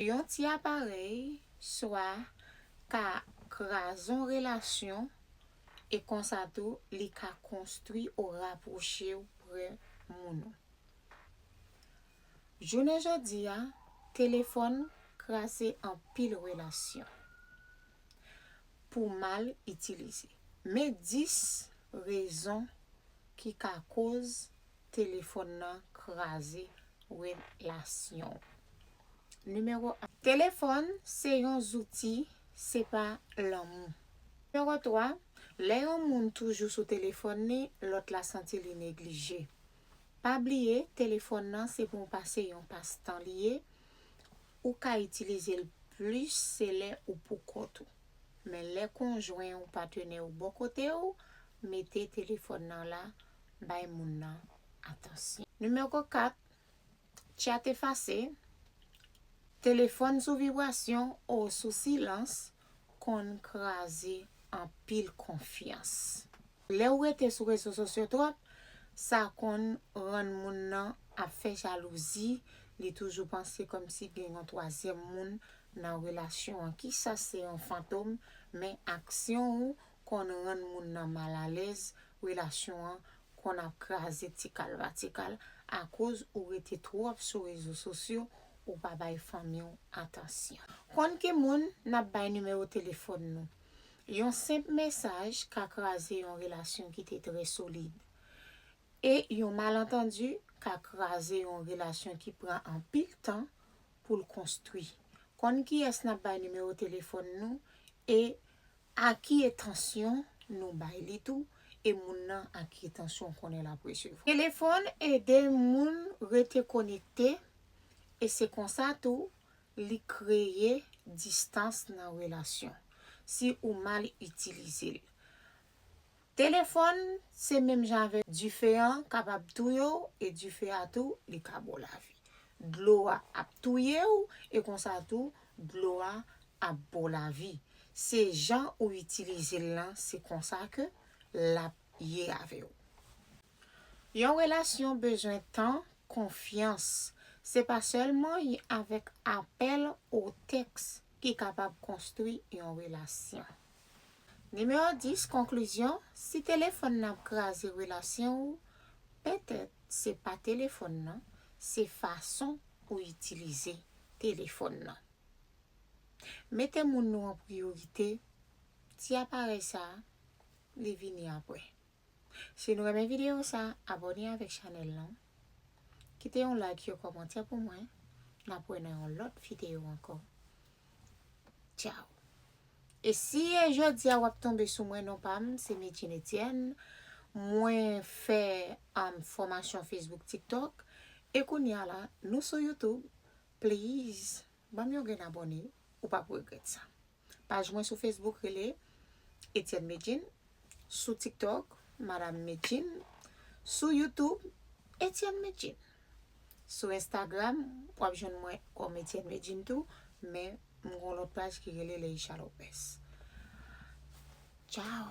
Yon ti aparèy swa ka krazon relasyon e konsa tou li ka konstwi ou rapwoche w pre moun ou. Jounen jodi a, telefòn kraze anpil relasyon pou mal itilize. Men 10 rezon ki ka koz Telefòn nan kraze relasyon w. Nimewo 1. Telefòn se yon zouti, se pa lanmou. Nimewo 3. Lè yon moun toujou sou telefòn li, lòt la santi li neglije. Pa bliye telefòn nan se pou pase yon pas tan li ye, ou ka itilize l plis se lè ou pou kont ou. Men lè konjwen ou, patenè ou bò kote w, mete telefòn nan la bay moun nan atansyon. Nimewo 4, Tchat efase, telefòn sou vibrasyon o sou silans konn kraze anpil konfyans. Lè ou rete sou rezo sosyo twòp, sa konn rann moun nan ap fè jalouzi, li toujou panse kòmsi gen yon twazyèm moun nan relasyon an. Ki sa se yon fantom, men aksyon ou konn rann moun nan mal alèz relasyon an konn ap kraze tikal pa tikal akoz ou rete twòp sou rezo sosyo ou pa bay fanmi w atansyon. Konn ki moun nap bay nimewo telefòn nou. Yon senp mesaj ka kraze yon relasyon ki te trè solid. E yon malantandi ka kraze yon relasyon ki pran anpil tan pou l konstwi. Konn kiyès nap bay nimewo telefòn nou e A ki etansyon nou bay li tou e moun nan a ki etansyon konnen lap resevwa. Telefòn ede moun rete konekte e se konsa tou li kreye distans nan relasyon si ou mal itilize l. Telefòn se menm jan avè dife an kapab touye w e dife a tou li ka ba w lavi. Dlo a ap touye w e konsa tou dlo a ap ba w lavi. Se jan ou itilize l lan se konsa ke l ap ye avè w. Yon relasyon bezwen tan, konfyans. Se pa sèlman y avèk apèl ou tèks ki kapab konstwi yon relasyon. Nimewo 10, Konklizyon, Si telefòn nan ap kraze relasyon ou, petèt se pa telefòn nan, se fason ou itilize telefòn nan. Mete moun nou an priyorite, ti aparèy sa a, li vini apre. Si nou renmen video sa abone avek chanel lan kite yon like yon komantè pou mwen nap wè nan yon lot video anko ciao e si e jodia wap tonbe sou mwen non pam se Medjine Etienne mwen fè am fomasyon Facebook tiktok e kounya la nou sou YouTube please banm yon grenn abone ou pap regret sa. Paj mwen sou Facebook rele Etienne Medjine, sou TikTok Madame Medjine, sou YouTube Etienne Medjine. Sou Instagram w ap jwenn mwen kòm Etienne Medjine tou, men m gon lòt paj ki rele Leisha Lopez. Ciao!